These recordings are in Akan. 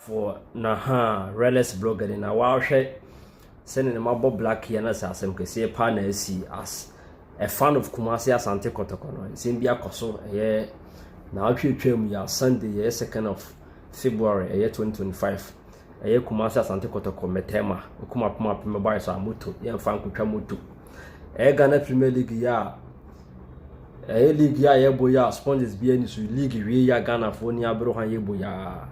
for na ha rɛlɛs blogger ni na wahwɛ sɛnea na mabɔ black yɛ na sɛ asɛm kɛseɛ paa na asi as a fan of kumase asante kɔtɔkɔ no nsɛm bi akɔ so ɛyɛ na atwitwa mu yɛ sunday yɛ second of february ɛyɛ 2025 ɛyɛ kumase asante kɔtɔkɔ mɛtɛma okuma poma pema bae so a moto yɛmfa nkotwa moto Ɛyɛ Ghana Premier League yi a ɛyɛ league yi a yɛbɔ yi a sponsors bi ani so league wie yi a Ghanafoɔ ni abere hɔ a yɛbɔ yi a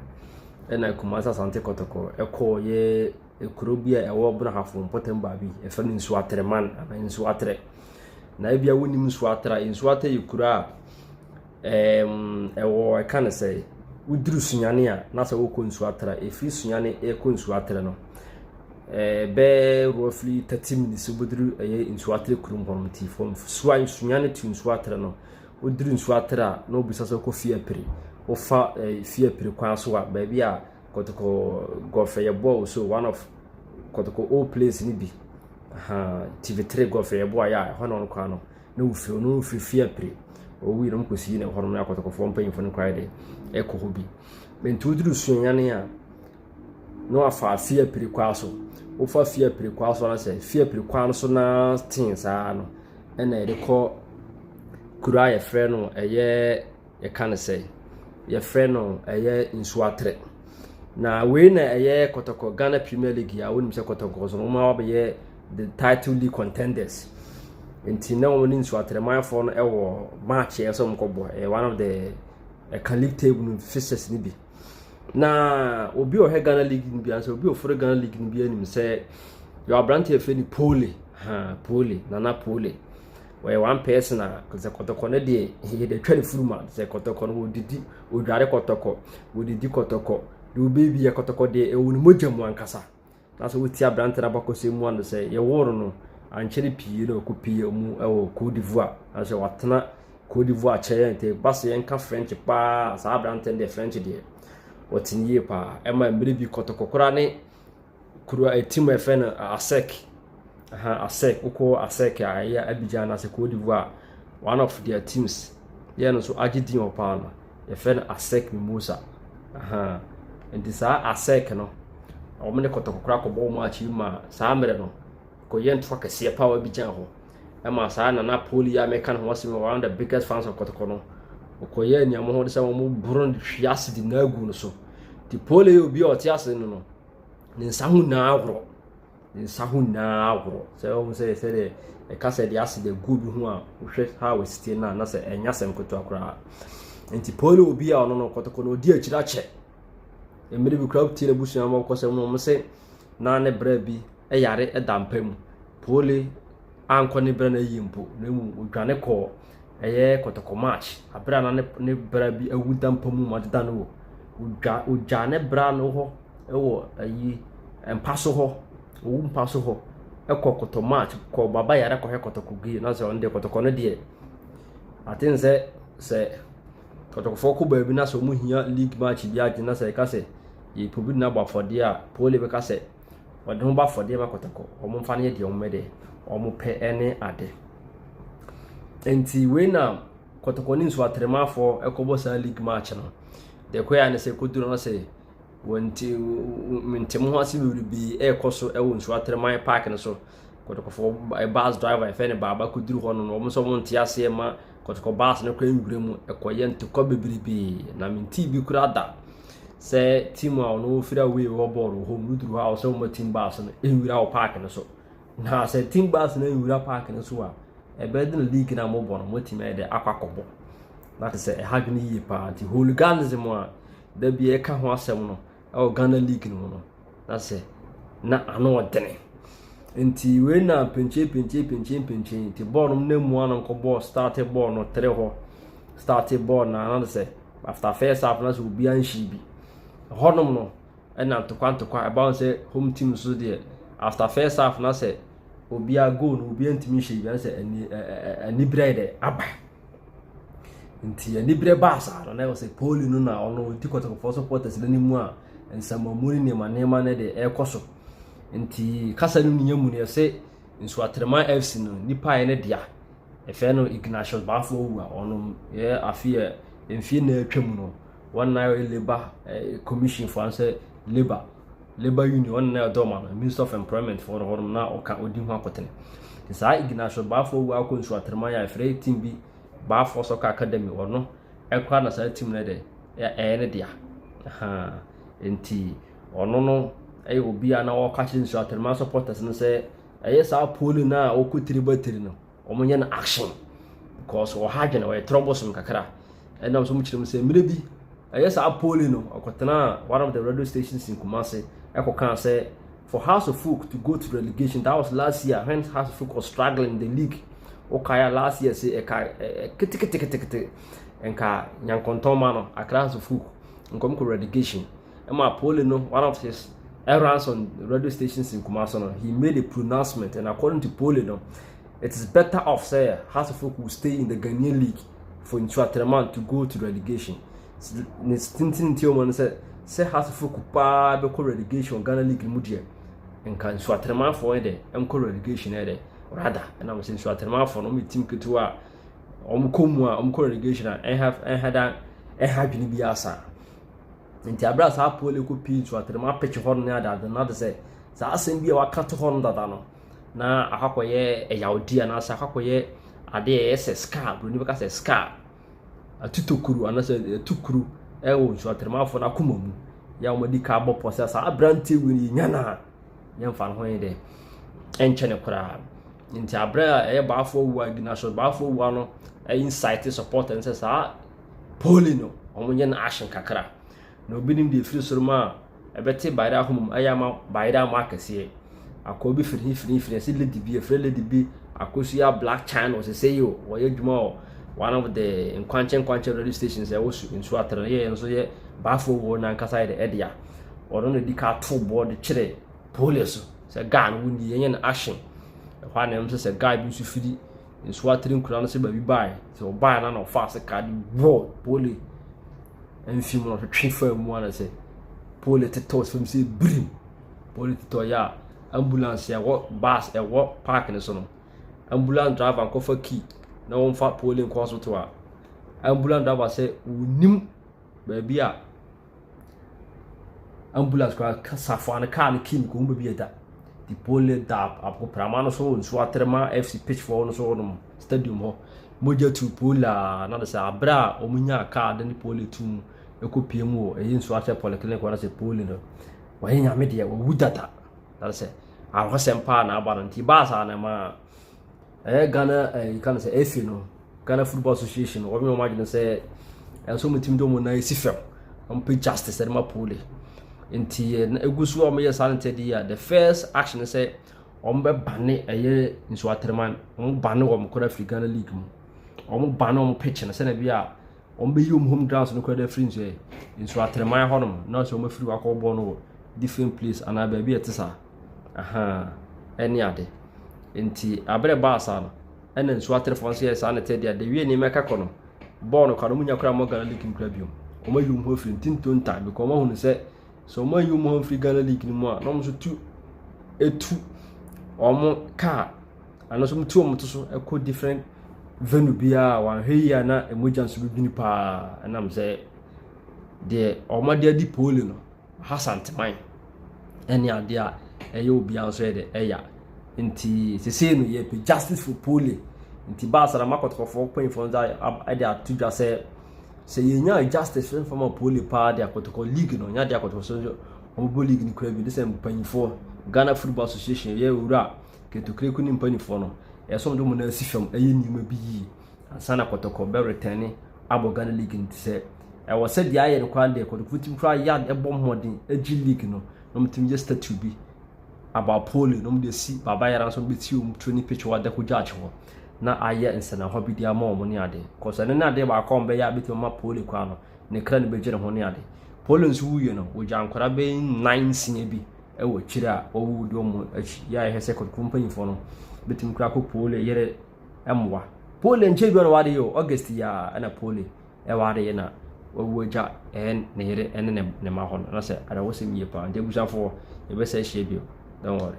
ɛna Kumasi Asante Kɔtɔkɔ ɛkɔɔ yɛ ekuro bi a ɛwɔ Brahafo mpɔtam baabi ɛfɛ no nsuo atere man anaa nsuo atere na ebi a wonim nsuo atere a nsuo atere yɛ kuro a Ɛɛm, ɛwɔ ɛka no sɛ, woduru sunyane a, na sɛ wokɔ nsuo atrɛ, ɛfiri sunyane ɛkɔ nsuo atrɛ no, ɛɛ bɛɛ roughly thirty minutes wobɛduru ɛyɛ nsuo atrɛ kurom hɔ no nti from sua sunyane to nsuo atrɛ no, woduru nsuo atrɛ a, na wobisa sɛ wokɔ fie apiri, wofa ɛɛ fie apiri kwan so a, baabi a kɔtɔkɔ golf ɛyɛ bɔɔ wɔ so one of kɔtɔkɔ old place no bi, ahaa TV3 golf ɛyɛ bɔɔ a yɛ a ɛhɔ na wɔn kwan no. na wofi hɔ no wofi fie apue. Wowie no wɔkɔ si na ɛhɔ nom na akɔtɔkɔfoɔ mpanyinfoɔ no koraa de ɛkɔ hɔ bi. Nti woduru Suanyane a na wafa fie apue kwan so. Wofa fie apue kwan so anasɛ fie apue kwan so na tee saa no ɛna yɛde kɔ kuro a yɛfrɛ no ɛyɛ. Yɛka no sɛ yɛfrɛ no ɛyɛ nsuo atere. Na wei na ɛyɛ kɔtɔkɔ Ghana Premier League a wonim sɛ kɔtɔkɔ so wɔn a wɔabɛyɛ the title league contenders. Nti na wɔn ne nsuo atere manfoɔ no ɛwɔ match a ɛsɛ wɔn kɔbɔ ɛyɛ one of the ɛka league table no fixtures no bi. Na obi a ɔhwɛ Ghana league no bi ansa obi a ɔforo Ghana league no bi anim sɛ yɛ aberante a yɛfrɛ no Pole ha Pole Nana Pole. wɔyɛ one person a sɛ kɔtɔkɔ no deɛ yɛde atwa ne furu ma sɛ kɔtɔkɔ no wɔdidi wɔdware kɔtɔkɔ wɔdidi kɔtɔkɔ deɛ wɔbɛyɛ bi yɛ kɔtɔkɔ deɛ ɛwɔ ne mogya mu ankasa na sɛ wɔti aberante no abakɔsɛ mu ano sɛ yɛworo no ankyɛre pii na ɔkɔ pii mu ɛwɔ Cote d'Ivoire na sɛ watena Cote d'Ivoire kyɛ yɛn nti ba sɛ yɛnka French paa saa aberante no deɛ French deɛ wɔtene yie paa ɛma mmerɛ bi kɔtɔkɔ koraa ne kuro a ɛtim a yɛfrɛ no Asɛk, aha Asɛk, wokɔ Asɛk a ɛyɛ Abidjan anaasɛ Cote d'Ivoire one of their teams yɛ no nso agye din wɔ paa no yɛfrɛ no Asɛk Mimosa aha nti saa Asɛk no wɔn ne kɔtɔkɔkora kɔbɔ wɔn akyi ma saa mmerɛ no kɔyɛ ntoa kɛseɛ paa wɔ Abidjan hɔ ɛma saa nana poli a mɛka no ho asɛm wɔ one of the biggest fans of kɔtɔkɔ no wɔkɔyɛ nneɛma ho de sɛ wɔn boro hwi ase de na agu no so nti poli yɛ obi a ɔte ase no no ne nsa ho nyinaa ahoro ne nsa ho nyinaa ahoro sɛ wɔn sɛ sɛ deɛ ɛka sɛ deɛ ase deɛ gu bi ho a wohwɛ ha wɔ sitie no a na sɛ ɛnya sɛm ketewa koraa nti pɔli obi a ɔno no kɔtɔkɔ na ɔdi akyiri akyɛ mmiri bi koraa tie n'abusua ma ɔkɔ sɛ wɔn sɛ na ne brɛ bi ɛyare ɛda mpa mu pɔli ankɔ ne brɛ no ayi mpo na emu odwane kɔɔ Ɛyɛ kɔtɔkɔ March, bere a na ne bra bi awu da mpa mu ma deda no wɔ. Ogya ogyaa ne bra no hɔ wɔ ayi mpa so hɔ, owu mpa so hɔ. Ɛkɔ kɔtɔ March, kɔ baba yare kɔhwɛ kɔtɔkɔ gay. Na sɛ ɔno deɛ kɔtɔkɔ no deɛ aten sɛ sɛ kɔtɔkɔfoɔ kɔ baabi na sɛ wɔn hia league match bi agye na sɛ ɛka sɛ yɛpɛ obi na abɔ afɔdeɛ a pole bɛka sɛ wɔde wɔn bɔ afɔdeɛ ma kɔtɔkɔ. Wɔmfa no yɛ deɛ wɔn deɛ wɔpɛ ne ade. Nti wei na kɔtɔkɔ ne nsu atɛrɛmafoɔ ɛkɔbɔ saa league match no. Deɛ ɛkɔyɛ ne sɛ ɛkɔduru no sɛ wɔn ti ntɛm ho ase wiri bi ɛrekɔ so ɛwɔ nsu atɛrɛman park no so. Kɔtɔkɔfoɔ bus driver ɛfɛ ne baaba kɔduru hɔ no wɔn nso wɔn nte aseɛ ma kɔtɔkɔ baase no kɔ nwura mu kɔyɛ ntɔkwa bebrebe na me ntee bi kura da sɛ team a ɔno ofiri away wɔ bɔɔl wɔ hɔ mu duru hɔ a ɔsɛ wɔn team baase no nwura wɔ park no so na sɛ team baase no nwura park no so a ɛbɛyɛ de na league na mobɔ no motumi ayɛ de akɔ akɔbɔ na te sɛ ɛha dwene yie paa nti hooliganism a da bi ɛka ho asɛm no wɔ Ghana league no mu no, na sɛ na ano ɔdene. Nti wei na mpenkye mpenkye mpenkye mpenkye nti bɔɔl no na mu ano nkɔ bɔɔl start bɔɔl no tere hɔ start bɔɔl na ano sɛ after first half na sɛ obi anhyi bi. Ɛhɔnom no ɛna ntokwa ntokwa ɛbaa sɛ home team so deɛ after first half na sɛ obi a goal no obi ntumi nhyɛ bi na sɛ ani ɛɛ anibere dɛ aba. nti anibere baa saa no na ɛwɔ sɛ poli no na ɔno ɔdi kɔtɔkɔfoɔ supporters no anim a nsɛmmamu ne nneɛma nneɛma no de ɛrekɔ so nti kasa no nya mu no yɛsɛ nsuatrema fc no nipa yɛ ne dea ɛfɛ no ignatius baafo owu a ɔno yɛ afe yɛ mfie na atwa mu no wɔn na yɛ labour eh, commission fo ansɛ labour Labour Union, ɔno na ɛdɔm ano, Ministry of Employment foɔ no hɔnom na ɔka ɔdi ho akotene. Nti saa Ignacio Baafoɔ wei akɔ nsu atraman a ɛfrɛ team bi Baafoɔ Soccer Academy ɔno ɛkora na saa team no dɛ ɛyɛ ne dea. Nti ɔno no ɛyɛ obi a na ɔka kyerɛ nsu atraman supporters no sɛ ɛyɛ saa polling a ɔkɔ tiri ba tiri no. wɔnyɛ no action because wɔ ha adwene wɔyɛ trɔ bosom kakra ɛnam nso kyerɛ mu sɛ mmerɛ bi ɛyɛ saa poli no ɔkɔtenaa one of the radio stations in Kumasi ɛkɔkaa sɛ for House of Folk to go to relegation that was last year when House of Folk was struggling in the league wokaya last year sɛ ɛka keteketekete nka nyankɔntɔn ma no akra House of Folk nkɔm kɔ relegation ɛma poli no one of his errands on radio stations in Kumasi no he made a pronouncement and according to poli no it is better off sɛ Hearts of Oak will stay in the Ghanaian league for ntua tɛrɛman to go to relegation ne tenten nti wɔn no sɛ sɛ Hearts of Oak paa bɛkɔ relegation Ghana league no mu deɛ nka ntua tɛrɛmanfoɔ yɛ dɛ nkɔ relegation yɛ dɛ rather ɛna wɔn sɛ ntua tɛrɛmanfoɔ no wɔn yɛ team ketewa a wɔn kɔ mu a wɔn kɔ relegation a ɛha ɛha dan ɛha adwene bi asa. Nti aberɛ a saa apoɔ no ɛkɔ pii nso atɛnɛmu apɛtwe hɔ ne adeade no ade sɛ saa asɛm bi a waka to hɔ no dada no na akɔkɔyɛ ɛyawdi anaasɛ akɔkɔyɛ adeɛ ɛyɛ sɛ scar buroni bɛka sɛ scar atutokuru anaasɛ atukuru ɛwɔ nso atɛnɛmu afoɔ no akoma mu yɛ a wɔadi ka abɔ pɔ sɛ saa aberanteɛ wei no yɛnya no a yɛmfa no ho yɛ dɛ ɛnkyɛ no koraa nti aberɛ a ɛyɛ baafoɔ wu a ignatius baafoɔ wu ano ɛyɛ insight supporter no sɛ saa Poli no, wɔn yɛ no ahye kakra. Na obi nim deɛ ɛfiri soro mu a ɛbɛte bayerɛ ahoma mu ayɛ ama bayerɛ ama akɛseɛ. Akɔ bi firi firi firi ɛsɛ lady bi ɛfrɛ lady bi akosua black china ɔsese yi o wɔyɛ adwuma wɔ one of the nkwankyɛ nkwankyɛ radio stations ɛwɔ su nsu atara yɛ nso yɛ baafo wɔ n'ankasa yɛ de ɛdea ɔno na di ka ato boɔ de kyerɛ poli so sɛ guy no wo nie yɛnyɛ no ahye ɛhɔ a na ɛm sɛ sɛ guy bi nso firi nsuo atene nkura no sɛ baabi baeɛ sɛ ɔbaeɛ na na ɔfa ase kaa de bɔɔ pole mfi mu na ɔtwetwe faa mu ana sɛ pole tetɔɔ sɛ sɛ birim pole tetɔɔ yɛ a ambulance ɛwɔ bus ɛwɔ park no so no ambulance driver nkɔfa key na wɔmfa pole nkɔ hospital a ambulance driver sɛ wɔnim baabi a Ambulance koraa ka safoa no kaa no kiim kɔɔ mu baabi a ɛda. The polling dab abo prama no so nsuo atere ma FC pitchfoɔ no so hɔnom stadium hɔ. Mogya tu pole a na de sɛ abere a wɔnyaa kaa de ne pole tu mu ɛkɔ pie mu wɔ ɛyɛ nsuo akyɛ polyclinic hɔ na sɛ pole no wɔyɛ nyame deɛ wɔwu dada na de sɛ ahosɛm paa na aba no nti baa saa na ɛmaa ɛyɛ ghana ɛɛ yika no sɛ ɛsi no ghana football association wɔn wɔn adwene sɛ ɛnso wɔn timi de wɔn nan esi fam wɔn pɛ justice ɛde ma poli nti ɛna egu so a wɔn yɛ saa no tɛ di a the first action sɛ wɔn bɛ bane ɛyɛ nsu atɛrɛman wɔn bane wɔn kora firi ghana league mu wɔn bane wɔn pitch no sɛnɛ bi a wɔn bɛ yi wɔn home grounds no kora de afiri nsu yɛ nsu atɛrɛman hɔnom na sɛ wɔn afiri wakɔ bɔ no wɔ different place anaa baabi a ɛte saa. Ahaa, ɛne ade. Enti abere baa saa no, ɛna nsu aterefoɔ nso yɛ saa ne tɛ deɛ dewie nneɛma ɛka kɔ no. Bɔɔl no kora no, munya kora mɔ Ghana League no kora bio. Wɔn ayi wɔn ho afiri ntinto nta because wɔn ahunu sɛ sɛ wɔn ayi wɔn ho afiri Ghana League no mu a, na wɔn nso tu etu wɔn kaa anaasɛ wɔn tu wɔn to so ɛkɔ different venue biara a wɔahwɛ yie a na mogya nso bɛdwini paa ɛnam sɛ deɛ wɔn ade adi pooli no. Hasanteman ne adeɛ a ɛyɛ obiara nso yɛ de ɛya nti sesei no yɛpɛ justice for polling nti baasa na makɔtɔkɔfoɔ mpanyinfoɔ nsa ɛde ato dwa sɛ sɛ yɛnya justice no fama polling paa de akɔtɔkɔ league no nya de akɔtɔkɔ so nso wɔbɛbɔ league no kura bi de sɛ mpanyinfoɔ Ghana Football Association yɛ owura kɛtɔkireko ne mpanyinfoɔ no ɛsɛ wɔn de wɔn nan si fam ɛyɛ nneɛma bi yie. ansa na kɔtɔkɔ bɛretɛne abɔ Ghana league no. Sɛ ɛwɔ sɛ deɛ ayɛ no kwan deɛ kɔtɔkɔfo tumi koraa yɛ ade bɔ mmɔden gye league no na wɔtumi yɛ statue bi about pole na wɔde asi Baba Yara nso bɛti wɔn training pitch wɔ Adako Judge hɔ na ayɛ nsɛnahɔ bi de ama wɔn ne ade kɔsɛ ɛno ne adeɛ baako a wɔbɛyɛ a bɛtumi ama pole kwan no ne kra no bɛgye ne ho ne ade pole nso wuiɛ no wɔgya nkwadaa bɛyi nnan nsia bi wɔ akyire a wɔwuwu de wɔn akyi yɛ a yɛhwɛ sɛ kɔtɔkɔfo mpanyinfoɔ no bɛtumi koraa kɔ pole yɛrɛ mmoa. Pole nkyɛ bi na wade yi o, August yi a na Pole ɛwade yi na wawu agya ɛyɛ ne yere ɛne ne mma hɔ no, na sɛ awerɛhosɛm yie paa, nti abusuafoɔ yɛbɛsɛ ahyia bio, don't worry.